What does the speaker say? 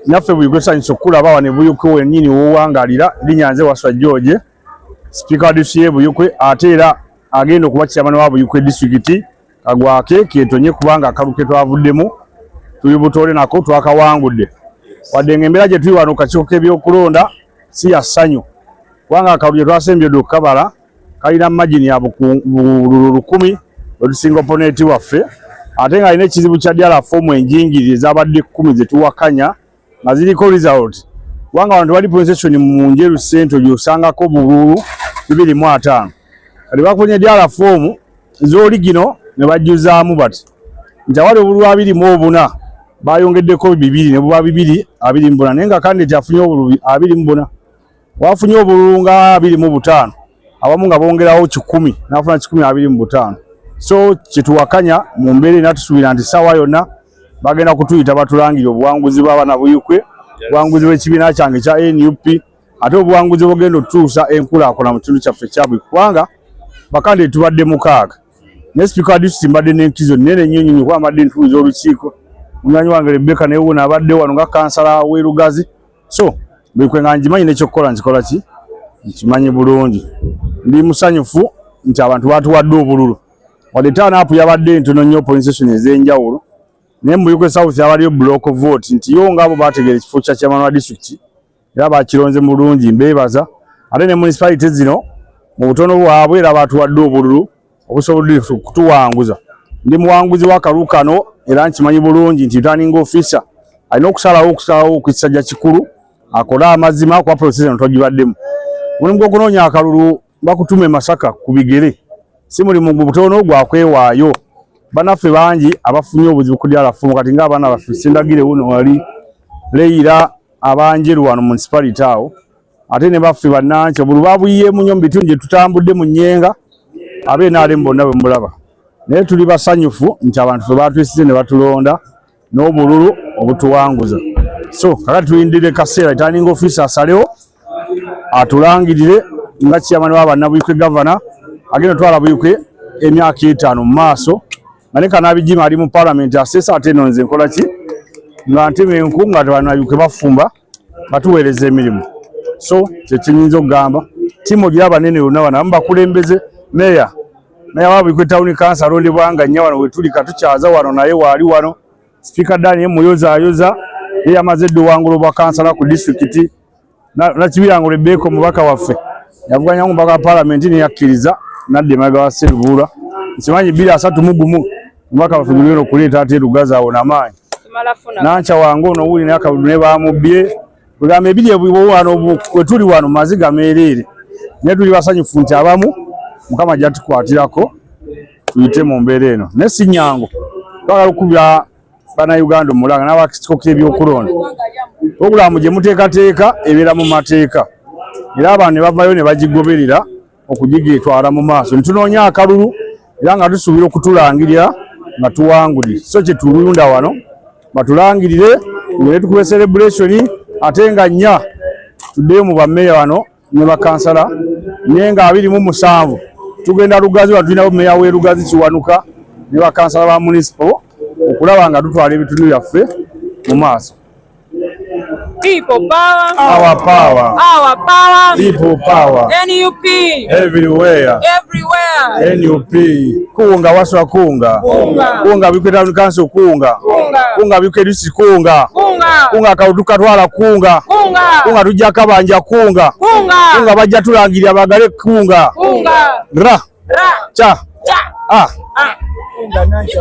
naffe buli gwesanyusa okukulaba wano ebuyukwe wenyini wowangalira linya nze waswa george sipiika wa disiye buyukwe ate era agenda okuba kyamana wa buyukwe disitulikiti kagwake ketonye kubanga akalu ketwavuddemu tuli butole nako twakawangudde wadde nga embeera gyetuli wano kakiiko k'ebyokulonda si ya ssanyu kubanga akalu gyetwasembye dde okukabala kalina magini ya bululu lukumi wetusinga oponeti waffe ate ng'alina ekizibu kya dyala foomu enjingirire zabadde kkumi zetuwakanya nga ziriko result kubanga abantu bali procession mu njeru sento gyosangako bululu bibiri mu ataano kati bakunya dyala foomu zoli gino ne bajjuzaamu bati nti awali obululu abiri mu obuna bayongeddeko bibiri ne buba bibiri abiri mu buna naye nga kandidati afunye obululu abiri mu buna Wafunye obululu nga abiri mu butaano abamu nga bongerawo kikumi nafuna kikumi abiri mu butaano so kyetuwakanya mu mbeera ena tusuubira nti ssaawa yonna bagenda kutuyita batulangire obuwanguzi bw'abaana buyukwe obuwanguzi bw'ekibiina kyange ekya nup ate obuwanguzi bugenda otutuusa enkulaakulana mu kitundu kyaffe kyabwe kubanga bakande tubadde mukaaga naye sipiika wa disitulikiti mbadde n'enkizo nnene nnyo nnyo kuba mbadde ntuuza olukiiko munywanyi wange rebeka naye wona abadde wano nga kansala w'erugazi so buli kwe nga ngimanyi nekyokukola nkikola ki nkimanyi bulungi ndi musanyufu nti abantu batuwadde obululu wadde taanaapu yabadde entono nnyo poinsetion ez'enjawulo naye mubuyuke south abaliyo block vote nti yo ngaabo bategeera ekifo kya chairman wa district era bakironze mulungi mbeebaza ate ne municipality zino mu butono bwabwe era batuwadde obululu obusobodde kutuwanguza ndi muwanguzi wakalu kano era nkimanyi bulungi nti taninga ofisa alina okusalawo okusalawo kukisajja kikulu akole amazima kuba prosesa no twagibaddemu mulimu gwokunoonya akalulu bakutuma emasaka ku bigere si mulimu gubutono gwakwewaayo banaffe bangi abafunye obuzibu ku dyalafumu kati nga abaana baffe sindagire wuno wali leyira abanjeru wano munisipality awo ate ne baffe bannansi obulu babuyiyeemu nnyo mu bitundu gye tutambudde mu nnyenga abnrm bonna bwe mulaba naye tuli basanyufu nti abantu fe batuyisize ne batulonda n'obululu obutuwanguza so kakati tulindire kaseera itaninga ofiisi asalewo atulangirire nga kiyamani wa bannabuyikwe gavana agenda otwala buyikwe emyaka etaano mu maaso nga ne kanabijima ali mu palamenti aseesa ate eno nze nkola ki nga ntema enku nga tebanayuke bafumba batuweereza emirimu so kyekinyinza okugamba timu ogira abanene yona bana amu bakulembeze meya meya wabikwe tawuni kansa alondebwa nga nya wano wetuli katukyaza wano naye waali wano sipiika dani ye muyozayoza ye yamaze edda owangula obwa kansala ku disitulikiti nakibirango lebeeka omubaka waffe yavuganya omubaka wa palamenti neyakkiriza nadda emabega wa serubuula nkimanyi bbiri asatu mugumu Omubaka waffe muli eno kuleeta ate lugazi awo namaanyi nankya wange ono wuli naye akabudu ne baamubbye kwegamba ebiri ebiwano we tuli wano maziga meereere naye tuli basanyufu nti abamu mukama jatukwatirako tuyite mu mbeera eno naye si nyangu twagala okukubira bannayuganda omulanga n'abakitiko k'ebyokulonda pulogulaamu gye muteekateeka ebeera mu mateeka era abantu ne bavayo ne bagigoberera okugigyetwala mu maaso netunoonya akalulu era nga tusuubira okutulangirira nga tuwanguli so kyetulunda wano batulangirire ngene tukube celebration ate nga nnya tuddeyo mu bameeya wano ne bakansala naye nga abiri mu musanvu tugenda lugazi wano tulinawo meeya w'e lugazi kiwanuka ne bakansala ba munisipo okulaba nga tutwala ebitundu byaffe mu maaso People power. Our power. Our power. People power. NUP. Everywhere. Everywhere. NUP. Kunga waswa kunga. Kunga. Kunga bikwe town council kunga. Kunga. Kunga bikwe disi kunga. Kunga. Kunga kauduka twala kunga. Kunga. Kunga tujja kabanja kunga. Kunga. Kunga bajja tulangirira bagale kunga. Kunga. Ra. Ra. Cha. Cha. Ah. Ah. Kunga nansha.